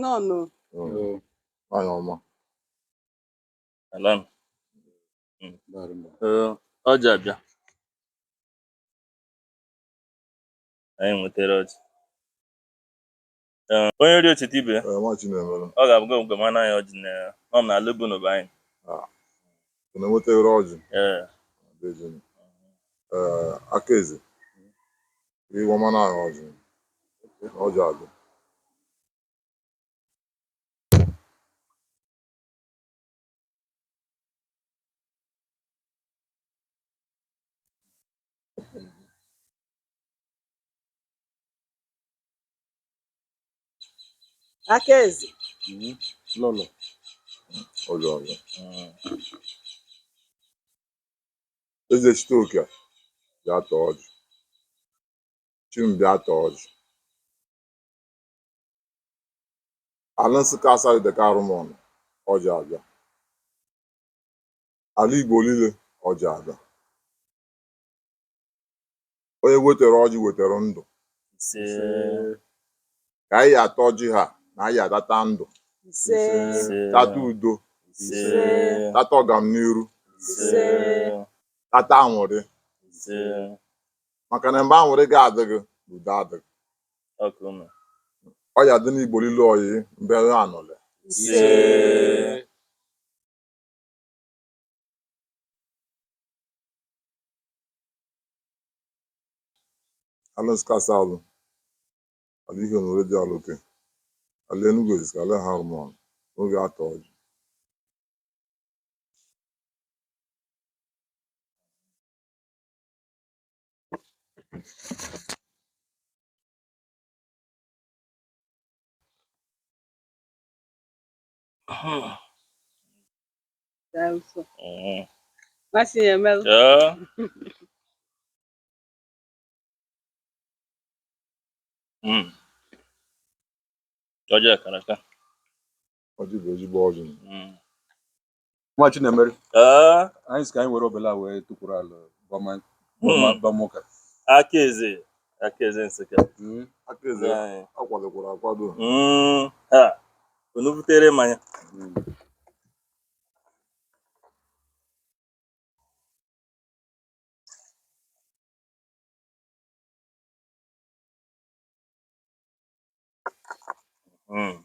Nọọnụ. Oh. Nwaanyị ọma. Alan. Ee, ọjị abịa. Anyị nwetere ọjị. Ee, onye rie o chete ibe ya Ee, Nwachinemere. ọ ga-abụ gị mgbe mana ya ọjị na nọ m n'ala ebe unu bụ anyị Ị na-enweta ere ọjị. ee Dejeni. Ee, aka eze. Iwe mana ahụ ọjị. Ọjị adị. aka eze lụlụ ọlụ ọlụ Ezechitoke bịa taa ọjị chi m bịa taa ọjị ala nsụka Asadu Ideke Arụmọna ọjị abịa ala igbo niile ọjị abịa onye wetere ọjị wetere ndụ ise ka anyị ata ọjị ha na anyị atata ndụ ise ise tata udo ise tata ọganiru ise tata aṅụrị ise maka na mgbe aṅụrị ga-adịghị udo adịghị ọkụ nọ ọ ya-adị n'igbo lile oyi mbe anọle ise Alex Kasalu, Aliyu Nuredi Aloke, Ali Enugu Ezike, Ali Harmon, n'oge atọ ọjị. Masị ya emelụ. Ọjị a kara aka. Ọjị bụ ezigbo ọjị. Nwachinemere ee anyị sị ka anyị were obele a wee tukwuru ala bama bama bama ụka aka eze aka eze nsụka Mm. aka eze Ee. akwadokwara akwado Mm, ha unu butere mmanya Mm. Mm.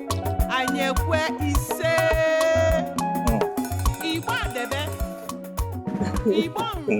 anyị ekwe ise igbo adebe igbo nri